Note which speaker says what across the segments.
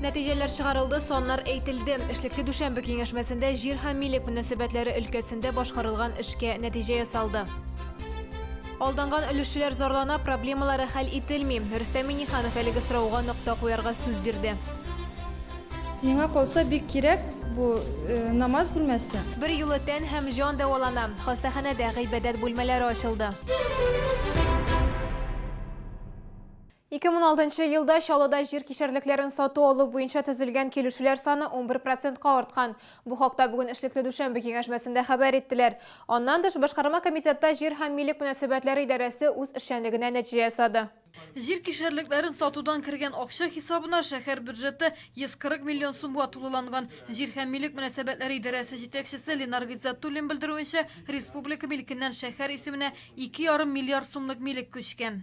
Speaker 1: Нәтиҗәләр чыгарылды, саннар әйтелде. Эшлекле дүшәмбе киңәшмәсендә җир һәм милек мөнәсәбәтләре өлкәсендә башкарылган эшкә нәтиҗә ясалды. Алданган өлешчеләр зарлана, проблемалары хәл ителми. Рөстәм Миниханов әлеге сорауга нокта куярга сүз бирде.
Speaker 2: Миңа калса бик кирәк бу э, намаз бүлмәсе. Бер юлы тән һәм
Speaker 1: җан дәвалана. Хастаханәдә гыйбадәт бүлмәләре ачылды. 2006 нчы елда Чаллыда җир кишәрлекләрен сату-алу буенча төзелгән килешүләр саны унбер процентка арткан. Бу хакта бүген эшлекле дүшәмбе киңәшмәсендә хәбәр иттеләр. Аннан тыш, башкарма комитетта җир һәм милек мөнәсәбәтләре идарәсе үз эшчәнлегенә нәтиҗә ясады. Җир кишәрлекләрен
Speaker 3: сатудан кергән акча хисабына шәһәр бюджеты 140 миллион сумга тулыланган. Җир һәм милек мөнәсәбәтләре идарәсе җитәкчесе Ленар Гыйззәтуллин белдерүенчә, республика милекеннән шәһәр исеменә ике ярым миллиард сумлык милек күчкән.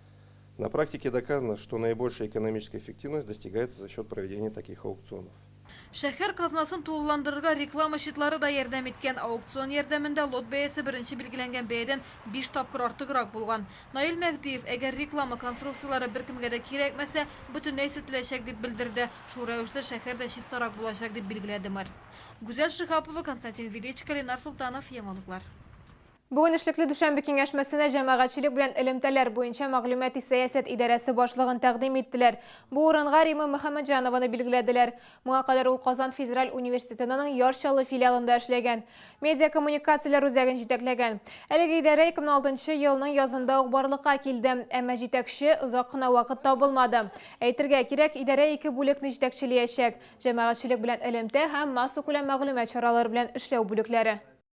Speaker 4: На практике доказано, что наибольшая экономическая эффективность достигается за счет проведения таких аукционов. Шәһәр
Speaker 3: казнасын тулыландырырга реклама счетлары да ярдәм иткән. Аукцион ярдәмендә лот бәясе беренче билгеләнгән бәядән биш тапкыр артыграк булган. Наил Мәһдиев, Әгәр реклама конструкцияләре беркемгә дә кирәкмәсә, бөтенләй сүтеләчәк, дип белдерде. Шул рәвешле шәһәр дә чистарак булачак, дип билгеләде мэр. Гүзәл Шиһапова, Константин Величко, Ленар Солтанов. Яңалыклар. Бүген
Speaker 1: эшлекле дүшәмбе киңәшмәсенә җәмәгатьчелек белән элемтәләр буенча мәгълүмати сәясәт идарәсе башлыгын тәкъдим иттеләр. Бу урынга Римма Мөхәммәтҗанованы билгеләделәр. Моңа кадәр ул Казан федераль университетының Яр Чаллы филиалында эшләгән. Медиакоммуникацияләр үзәген җитәкләгән. Әлеге идарә 2006 нчы елның язында ук барлыкка килде, әмма җитәкче озак кына вакыт табылмады. Әйтергә кирәк, идарә ике бүлекне җитәкчелиячәк, җәмәгатьчелек белән элемтә һәм массакүләм мәгълүмат чаралары белән эшләү бүлекләре.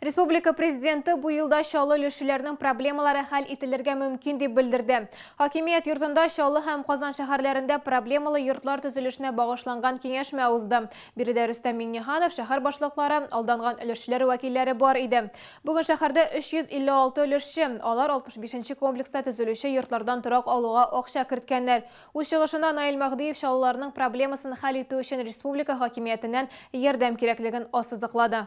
Speaker 5: Республика
Speaker 1: президенты бу елда Чаллы өлешчеләрнең проблемалары хәл ителергә мөмкин дип белдерде. Хакимият йортында Чаллы һәм Казан шәһәрләрендә проблемалы йортлар төзелешенә багышланган киңәшмә узды. Биредә Рөстәм Миңнеханов, шәһәр башлыклары, алданган өлешчеләр вәкилләре бар иде. Бүген шәһәрдә 356 өлешче, алар 65 комплекста төзелүче йортлардан торак алуга акча керткәннәр. Үз чыгышында Наил Мәһдиев чаллыларның проблемасын хәл итү өчен республика хакимиятеннән ярдәм кирәклеген ассызыклады.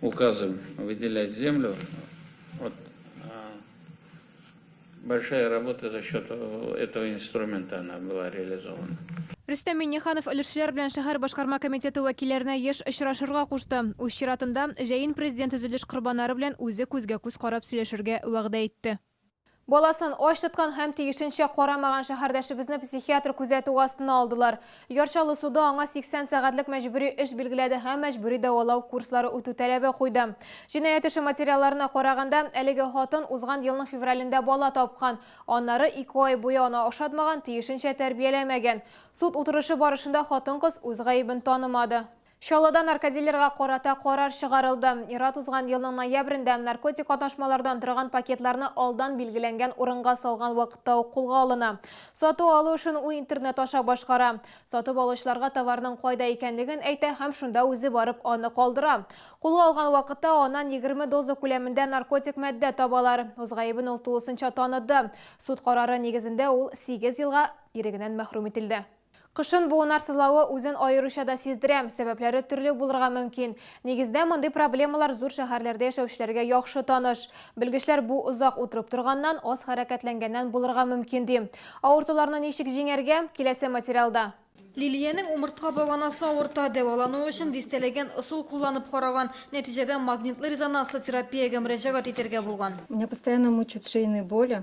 Speaker 6: Указом выделять землю, вот большая работа за счет этого инструмента она была реализована. Рөстәм Миңнеханов
Speaker 1: өлешчеләр белән шәһәр башкарма комитеты вәкилләренә еш очрашырга кушты. Үз чиратында, җәен Президент төзелеш корбаннары белән үзе күзгә-күз карап сөйләшергә вәгъдә итте. Баласын ач тоткан һәм тиешенчә карамаган шәһәрдәшебезне психиатр күзәтүе астына алдылар. Яр Чаллы суды аңа 80 сәгатьлек мәҗбүри эш билгеләде һәм мәҗбүри дәвалау курслары үтү таләбе куйды. Җинаять эше материалларына караганда, әлеге хатын узган елның февралендә бала тапкан, аннары ике ай буе аны ашатмаган, тиешенчә тәрбияләмәгән. Суд утырышы барышында хатын-кыз үз гаебен танымады. Чаллыда наркодилерга карата карар чыгарылды. Ир-ат узган елның ноябрендә наркотик катнашмалардан торган пакетларны алдан билгеләнгән урынга салган вакытта ук кулга алына. Сату-алу эшен ул интернет аша башкара. Сатып алучыларга товарның кайда икәнлеген әйтә һәм шунда үзе барып аны калдыра. Кулга алган вакытта аннан егерме доза күләмендә наркотик мәддә табалар. Үз гаебен ул тулысынча таныды. Суд карары нигезендә ул сигез елга ирегеннән мәхрүм ителде. Кышын буыннар сызлавы үзен аеруча да сиздерә. Сәбәпләре төрле булырга мөмкин. Нигездә мондый проблемалар зур шәһәрләрдә яшәүчеләргә яхшы таныш. Белгечләр бу озак утырып торганнан, аз хәрәкәтләнгәннән булырга мөмкин, ди. Авыртуларны ничек җиңәргә? Киләсе материалда. Лилиянең
Speaker 3: умыртка баганасы авырта, дәвалану өчен дистәләгән ысул кулланып караган, нәтиҗәдә магнитлы-резонанслы терапиягә мөрәҗәгать итәргә булган. Меня постоянно мучают
Speaker 2: шейные боли,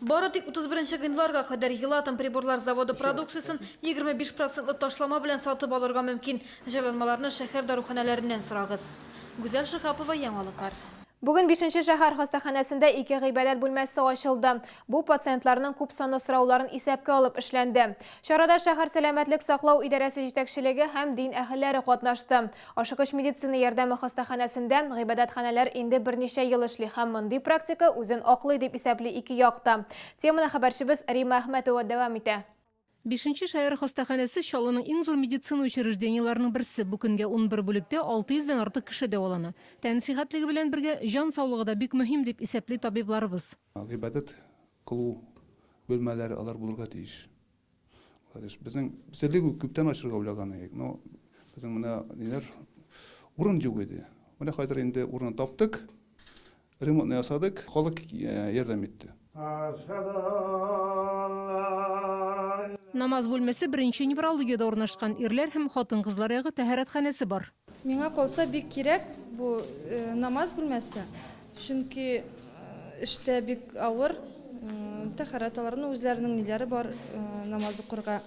Speaker 3: Бары тик 31 гыйнварга кадәр Елатом приборлар заводы продукциясен 25 процентлы ташлама белән сатып алырга мөмкин. Җайланмаларны шәһәр даруханәләреннән сорагыз. Гүзәл Шиһапова, Яңалыклар. Бүген бишенче
Speaker 1: шәһәр хастаханәсендә ике гыйбадәт бүлмәсе ачылды. Бу пациентларның күп санлы сорауларын исәпкә алып эшләнде. Чарада шәһәр сәламәтлек саклау идарәсе җитәкчелеге һәм дин әһелләре катнашты. Ашыгыч медицина ярдәме хастаханәсендә гыйбадәтханәләр инде берничә ел эшли һәм мондый практика үзен аклый, дип исәпли ике як та. Теманы хәбәрчебез Римма Әхмәтова дәвам итә. Бишенче шәһәр
Speaker 7: хастаханәсе Чаллының иң зур медицина учреждениеләренең берсе. Бу көнгә унбер бүлектә 600 дән артык кеше дәвалана. Тән сихәтлеге белән бергә, җан саулыгы да бик мөһим, дип исәпли табибларыбыз. Гыйбадәт
Speaker 8: кылу бүлмәләре алар булырга тиеш. Владимир, безнең серлек күптән ачырга уйлаган идек, но безнең менә ниләр урын юк иде. Менә хәзер инде урын таптык, ремонтны ясадык, халык ярдәм итте.
Speaker 7: Намаз бүлмәсе беренче неврологиядә урнашкан, ирләр һәм хатын-кызлар ягы тәһарәтханәсе бар. Миңа калса бик
Speaker 2: кирәк бу намаз бүлмәсе, чөнки эштә бик авыр, тәхәрәт алырны, үзләренең ниләре бар намаз укырга,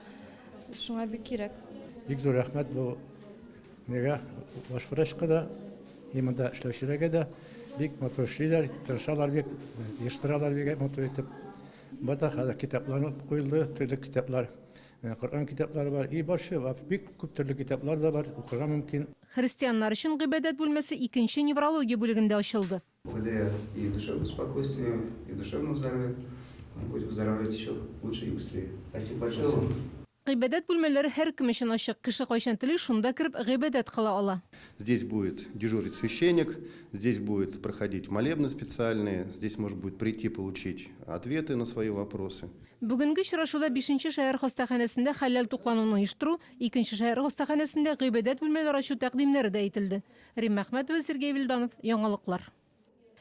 Speaker 2: шуңа бик кирәк. Бик зур рәхмәт
Speaker 9: бу нигә баш врачка да и монда эшләүчеләргә дә бик матур эшлиләр тырышалар бик җыштыралар бик матур итеп бата хәзер китапларны куелды төрле китаплар Менә Коръән китаплары бар и башчы вап бик күп төрле китаплар да бар укырга мөмкин. Христианнар өчен
Speaker 7: гыйбадәт бүлмәсе икенче неврология бүлегендә ачылды. Где
Speaker 10: и душевное спокойствие и душевное здоровье и будет выздоравливать еще лучше и быстрее. Спасибо большое вам. Гыйбадәт бүлмәләре
Speaker 7: һәркем өчен ачык, кеше кайчан тели шунда кереп гыйбадәт кыла ала. Здесь будет
Speaker 11: дежурить священник, здесь будет проходить молебны специальные, здесь можно будет прийти получить ответы на свои вопросы. Бүгенге очрашуда
Speaker 7: бишенче шәһәр хастаханәсендә хәләл туклануны оештыру, икенче шәһәр хастаханәсендә гыйбадәт бүлмәләре ачу тәкъдимнәре дә әйтелде. Римма Әхмәтова, Сергей Вильданов, Яңалыклар.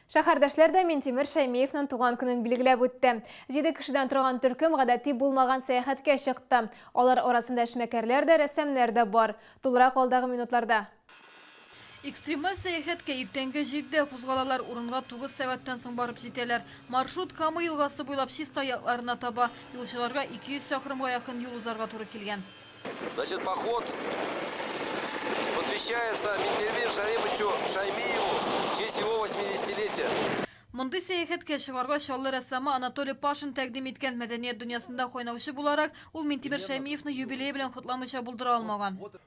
Speaker 7: Шәһәрдәшләр
Speaker 1: дә Минтимер Шәймиевның туган көнен билгеләп үтте. Җиде кешедән торган төркем гадәти булмаган сәяхәткә чыкты. Алар арасында эшмәкәрләр дә, рәссамнар да бар. Тулырак алдагы минутларда.
Speaker 3: Экстремаль сәяхәткә иртәнге җидедә кузгалалар, урынга тугыз сәгатьтән соң барып җитәләр. Маршрут Кама елгасы буйлап Чистай якларына таба. Юлчыларга 200 чакрымга якын юл узарга туры килгән. Значит,
Speaker 12: поход посвящается Минтервир Шариповичу Шаймиеву в честь его восьмидесятилетия. Мондый
Speaker 3: сәяхәткә чыгарга Чаллы рәссамы Анатолий Пашин тәкъдим иткән. Мәдәният дөньясында кайнаучы буларак, ул Минтимер Шәймиевны юбилее белән котламыйча булдыра алмаган.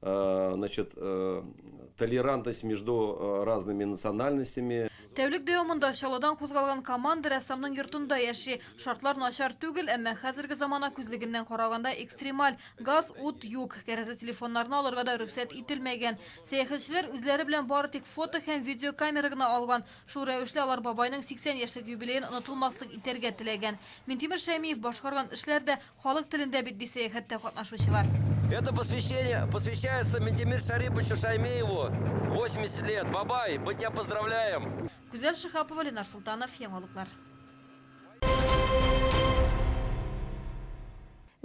Speaker 13: Значит, толерантность между разными национальностями. Тәүлек дәвамында
Speaker 3: Чаллыдан кузгалган команда рәссамның йортында яши. Шартлар начар түгел, әмма хәзерге замана күзлегеннән караганда экстремаль. Газ, ут юк, кәрәзле телефоннарны алырга да рөхсәт ителмәгән. Сәяхәтчеләр үзләре белән бары тик фото һәм видеокамера гына алган. Шул рәвешле алар бабайның 80 яшьлек юбилеен онытылмаслык итәргә теләгән. Минтимер Шәймиев башкарган эшләр дә Халык телендә бит, ди сәяхәттә катнашучылар. Это посвящение
Speaker 12: посвящается Минтимир Шәриповичу Шаймееву, 80 лет, бабай, мы тя поздравляем! Гүзәл Шиһапова,
Speaker 3: Ленар Солтанов, Яңалыклар.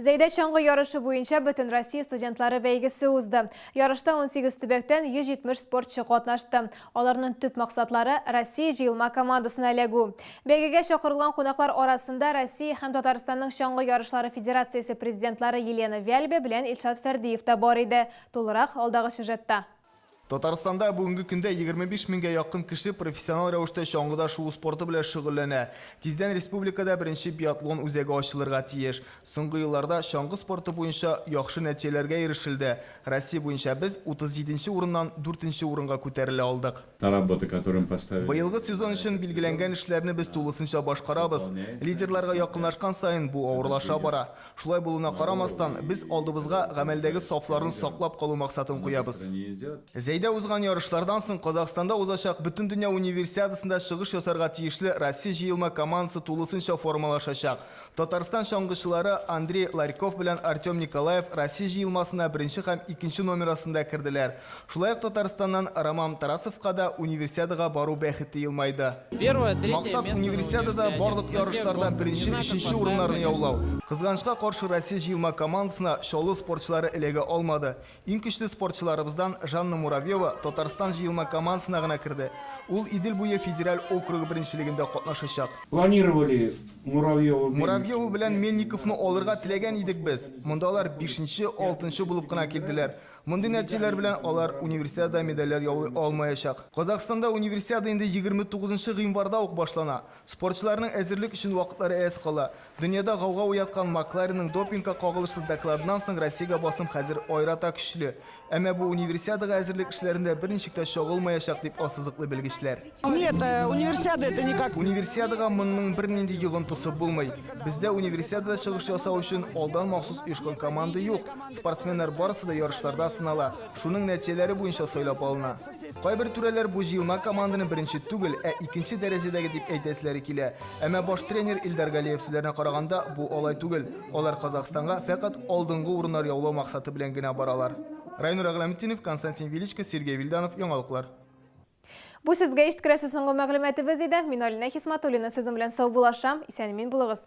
Speaker 1: Зәйдә чаңгы ярышы буенча Бөтенроссия студентлары бәйгесе узды. Ярышта унсигез төбәктән 170 спортчы катнашты. Аларның төп максатлары, Россия җыелма командасына эләгү. Бәйгегә чакырылган кунаклар арасында Россия һәм Татарстанның Чаңгы ярышлары федерациясе президентлары Елена Вяльбе белән Илшат Фәрдиев та бар иде. Тулырак, алдагы сюжетта. Татарстанда
Speaker 14: бүгенге көндә егерме биш меңгә якын кеше профессионал рәвештә чаңгыда шуу спорты белән шөгыльләнә. Тиздән республикада беренче биатлон үзәге ачылырга тиеш. Соңгы елларда чаңгы спорты буенча яхшы нәтиҗәләргә ирешелде. Россия буенча без 37 нче урыннан 4 нче урынга күтәрелә алдык. Быелгы сезон өчен билгеләнгән эшләрне без тулысынча башкарабыз. Лидерларга якынлашкан саен бу авырлаша бара. Шулай булуына карамастан, без алдыбызга гамәлдәге сафларны саклап калу максатын куябыз. Зәйдә узган ярышлардан соң Казахстанда узачак Бөтендөнья Универсиадасында чыгыш ясарга тиешле Россия җыелма командасы тулысынча формалашачак. Татарстан чаңгычылары Андрей Ларьков белән Артем Николаев Россия җыелмасына беренче һәм икенче номер астында керделәр. Шулай ук Татарстаннан Ромам Тарасовка да Универсиадага бару бәхете елмайды. Максат, Универсиадада барлык ярышларда беренче, өченче урыннарны яулау. Кызганычка каршы, Россия җыелма командасына Чаллы спортчылары эләгә алмады. Иң көчле спортчыларыбыздан Жанна Муравьева Татарстан җыелма командасына гына керде. Ул Идел буе федераль округы беренчелегендә катнашачак. Планировали
Speaker 15: Муравьеву Мельникову.
Speaker 14: Муравьеву белән Мельниковны алырга теләгән идек без. Монда алар бишенче, алтынчы булып кына килделәр. Мондый нәтиҗәләр белән алар Универсиадада медальләр яулый алмаячак. Казахстанда Универсиада инде егерме тугызынчы гыйнварда ук башлана. Спортчыларның әзерлек өчен вакытлары әз кала. Дөньяда гауга уяткан Макларенның допингка кагылышлы докладыннан соң Россиягә басым хәзер аерата көчле. Әмма бу Универсиадага әзерлек эшләрендә берничек тә чагылмаячак, дип ассызыклый белгечләр. Нет,
Speaker 15: Универсиада это никак. Универсиадага монның
Speaker 14: бернинди йогынтысы булмый. Бездә Универсиадада чыгыш ясау өчен алдан махсус оешкан команда юк. Спортсменнар барысы да ярышларда сынала, шуның нәтиҗәләре буенча сайлап алына. Кайбер түрәләр бу җыелма команданы беренче түгел, ә икенче дәрәҗәдәге дип әйтәселәре килә. Әмма баш тренер Илдар Галиев сүзләренә караганда, бу алай түгел. Алар Казахстанга фәкать алдынгы урыннар яулау максаты белән генә баралар. Райнур Әгъләметдинов, Константин Величко, Сергей Вильданов, Яңалыклар.
Speaker 1: Бу сезгә ишткерәсе соңгы мәгълүматыбыз иде. Мин Алинә Хисматуллина сезнең белән саубуллашам. Исән-имин булыгыз.